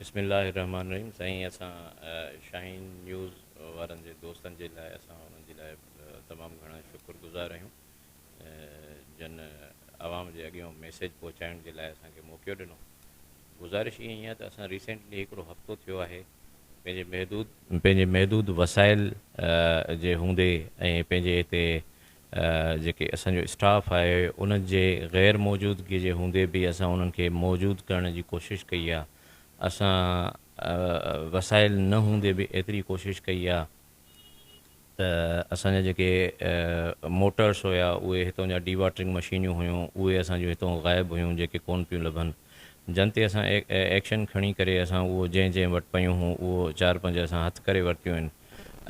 بسم الله الرحمٰن الرحيم سائين اسان شاهين نيوز وارن جي دوستن جي لاء اسان انهن جي لاء تمام گهڻا شڪر گذار آهيون جن عوام جي اڳيون ميسيج پهچائڻ جي لاء اسان کي موقعو ڏنو گذارش ائين آهي ته اسان ريسينٽلي هڪڙو هفتو ٿيو آهي پنهنجي محدود پنهنجي محدود وسائل جي هوندي ۽ پنهنجي هتي جيڪي اسان جو اسٽاف آهي ان جي غير موجودگي جي هوندي به اسان انهن کي موجود ڪرڻ جي ڪوشش ڪئي آهي اسان وسائل نه هوندي به ايتري ڪوشش ڪئي آهي ته اسان جا جيڪي موٽرس هيا اهي هتون جا ڊي واٽرنگ مشينيون هيون اهي اسان جون هتون غائب هيون جيڪي ڪون پيون لڀن جن تي اسان ايڪشن کڻي ڪري اسان اهو جنهن جنهن وٽ پيون هون اهو چار پنج اسان هٿ ڪري ورتيون آهن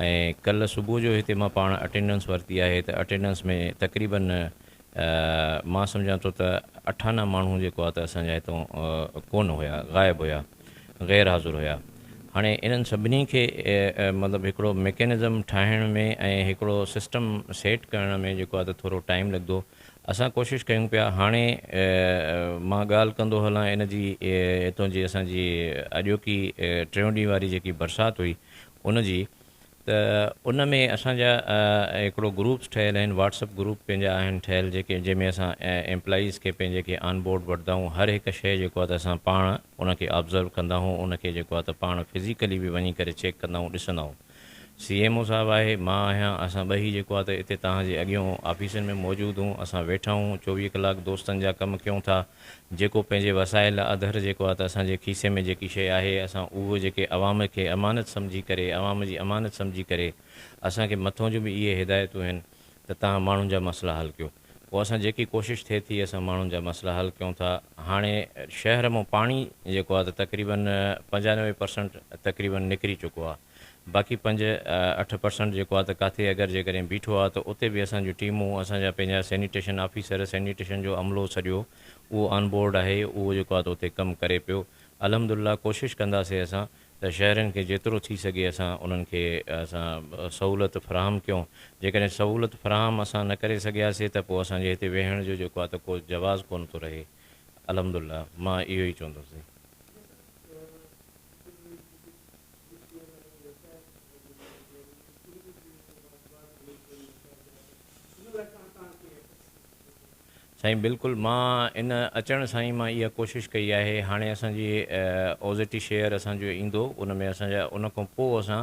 ۽ ڪلهه صبح جو هتي مان پاڻ اٽينڊنس ورتي آهي ته اٽينڊنس ۾ تقريباً مان سمجهان ٿو ته اٺانا ماڻهو جيڪو آهي ته اسان جا هتو ڪونه هيا غائب هيا غير حاضر هيا هاڻي انهن سڀني کي مطلب هڪڙو ميڪينزم ٺاهڻ ۾ ۽ هڪڙو سسٽم سيٽ ڪرڻ ۾ جيڪو آهي ته ٿورو ٽائيم لڳندو اسان ڪوشش ڪيون پيا هاڻي مان ڳالهه ڪندو هلان ان جي هتو جي اسان جي اڄوڪي ٽيون ڏينهن واري جيڪي برسات هئي ان جي ته ان ۾ اسان جا هڪڙو گروپس ٺهيل آهن واٽسپ گروپ پنهنجا آهن ٺهيل جيڪي جنهن ۾ اسان ايمپلائيز کي پنهنجي کي آن بورڊ وٺدا آهيون هر هڪ شيء جيڪو آهي ته اسان پاڻ ان کي آبزرو ڪندا آهيون ان کي جيڪو آهي ته پاڻ فزيڪلي به وڃي ڪري چيڪ ڪندا آهيون ڏسندا آهيون سي ايم او صاحب آهي مان آهيان اسان ٻئي جيڪو آهي ته اتي توهان جي اڳيون آفيسن ۾ موجود هون اسان ويٺا هون چوويهه ڪلاڪ دوستن جا ڪم ڪيون ٿا جيڪو پنهنجي وسائل اڌر جيڪو آهي ته اسان جي کيسي ۾ جيڪي شيء آهي اسان اهو جيڪي عوام کي امانت سمجهي ڪري عوام جي امانت سمجهي ڪري اسان کي مٿون جون به اهي هدايتون آهن ته تهان ماڻهن جا مسئلا حل ڪيو پوء اسان جيڪي ڪوشش ٿئي ٿي اسان ماڻهن جا مسئلا حل ڪيون ٿا هاڻي شهر مون پاڻي جيڪو آهي ته تقريبن پنجانوي پرسنٽ تقريبن نڪري چڪو آهي باقي پنج اٺ پرسنٽ جيڪو آ ته ڪاٿي اگر جيڪڏهن بيٺو آ ته اتي به اسان جون ٽيمون اسان جا پنهنجا سينيٽيشن آفيسر سينيٽيشن جو عملو سڄو اهو آن بورڊ آهي اهو جيڪو آ ته اتي ڪم ڪري پيو الحمد لله ڪوشش ڪنداسي اسان ته شهرين کي جيترو ٿي سگهي اسان انهن کي اسان سهولت فراهم ڪيون جيڪڏهن سهولت فراهم اسان نه ڪري سگهياسي ته پو اسان جي هتي ويهڻ جو جيڪو آ ته ڪو جواز ڪونه ٿو رهي الحمد لله مان اهو ئي چوندس. سائين بلڪل مان ان اچڻ سان ئي مان اها ڪوشش ڪئي آهي هاڻي اسان جي اوزيٽي شيئر اسان جو ايندو ان ۾ اسان جا ان کان پوء اسان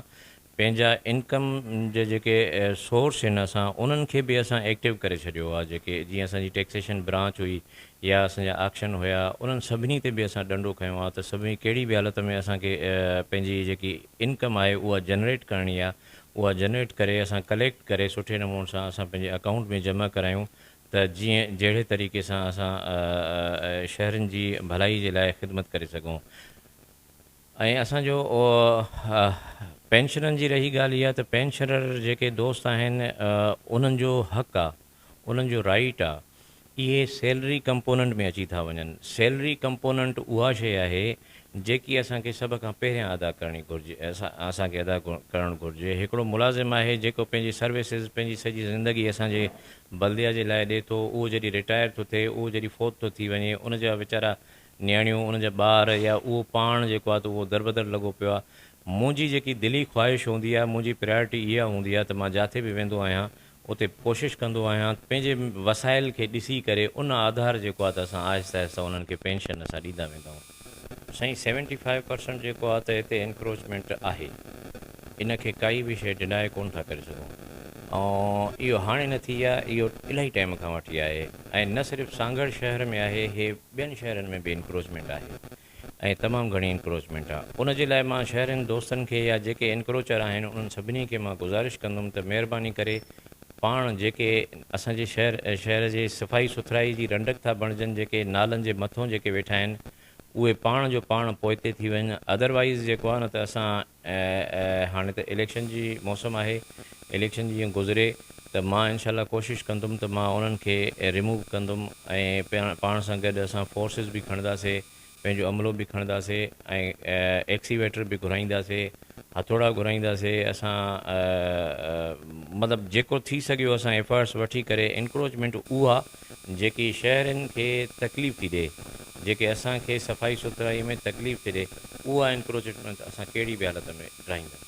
پنهنجا انڪم جي جيڪي سورس آهن اسان انهن کي به اسان ايڪٽو ڪري ڇڏيو آهي جيڪي جيئن اسان جي ٽيڪسيشن برانچ هئي يا اسان جا آڪشن هيا انهن سڀني تي به اسان ڏنڊو کنيو آهي ته سڀني ڪهڙي به حالت ۾ اسان کي پنهنجي جيڪي انڪم آهي اها جنريٽ ڪرڻي آهي اها جنريٽ ڪري اسان ڪليڪٽ ڪري سٺي نموني سان اسان پنهنجي اڪائونٽ ۾ جمع ڪرايون ته جيئن جهڙي طريقي سان اسان شهرين جي ڀلائي جي لاء خدمت ڪري سگهون ۽ اسان جو پينشنرن جي رهي ڳالهه اها ته پينشنر جيڪي دوست آهن انهن جو حق آهي انهن جو رائيٽ آ اهي سيلري ڪمپوننٽ ۾ اچي ٿا وڃن سيلري ڪمپوننٽ اها شئي آهي جيڪي اسان کي سڀ کان پهريان ادا ڪرڻي گهرجي اسان کي ادا ڪرڻ گهرجي هڪڙو ملازم آهي جيڪو پنهنجي سروسز پنهنجي سڄي زندگي اسان جي بلديا جي لاء ڏي ٿو اهو جڏهن رٽائر ٿو ٿئي اهو جڏهن فوت ٿو ٿي وڃي ان جا ويچارا نياڻيون ان جا ٻار يا اهو پاڻ جيڪو آهي ته اهو دربدر لڳو پيو آهي منهنجي جيڪي دلي خواهش هوندي آهي منهنجي پريارٽي اها هوندي آهي ته مان جاٿي به ويندو آهيان اتي ڪوشش ڪندو آهيان ته پنهنجي وسائل کي ڏسي ڪري ان آڌار جيڪو آهي ته اسان آهستي آهستي انهن کي پينشن اسان ڏيندا ويندائون. سائين سيونٽي فائيو پرسنٽ جيڪو آهي ته هتي انڪروچمينٽ آهي ان کي ڪائي به شيء ڊناء ڪونه ٿا ڪري سگهون ۽ اهو هاڻي نه ٿي آهي اهو الاهي ٽائيم کان وٺي آهي ۽ نه صرف سانگهڙ شهر ۾ آهي هي ٻين شهرن ۾ به انڪروچمينٽ آهي ۽ تمام گهڻي انڪروچمينٽ آ ان جي لاء مان شهرين دوستن کي يا جيڪي انڪروچر آهن انهن سڀني کي مان گذارش ڪندم ته مهرباني ڪري پاڻ جيڪي اسان جي شهر شهر جي صفائي سٿرائي جي رنڊڪ ٿا بڻجن جيڪي نالن جي مٿون جيڪي ويٺا آهن اهي پاڻ جو پاڻ پوئتي ٿي وڃن ادروائيز جيڪو آ نه ته اسان ۽ هاڻي ته اليڪشن جي موسم آهي اليڪشن جيئن گذري ته مان انشاء الله ڪوشش ڪندم ته مان انهن کي ريموو ڪندم ۽ پاڻ سان گڏ اسان فورسز به کڻنداسي پنهنجو عملو به کڻنداسي ۽ ايڪسي ويٽر به گهرائينداسي هٿوڙا گهرائينداسي اسان مطلب جيڪو ٿي سگهيو اسان ايفرٽس وٺي ڪري انڪروچمينٽ اها جيڪي شهرين کي تڪليف ٿي ڏئي، جيڪي اسان کي صفائي سٿرائي ۾ تڪليف ٿي ڏئي، اها انڪروچمينٽ اسان ڪهڙي به حالت ۾ ڊاهينداسين.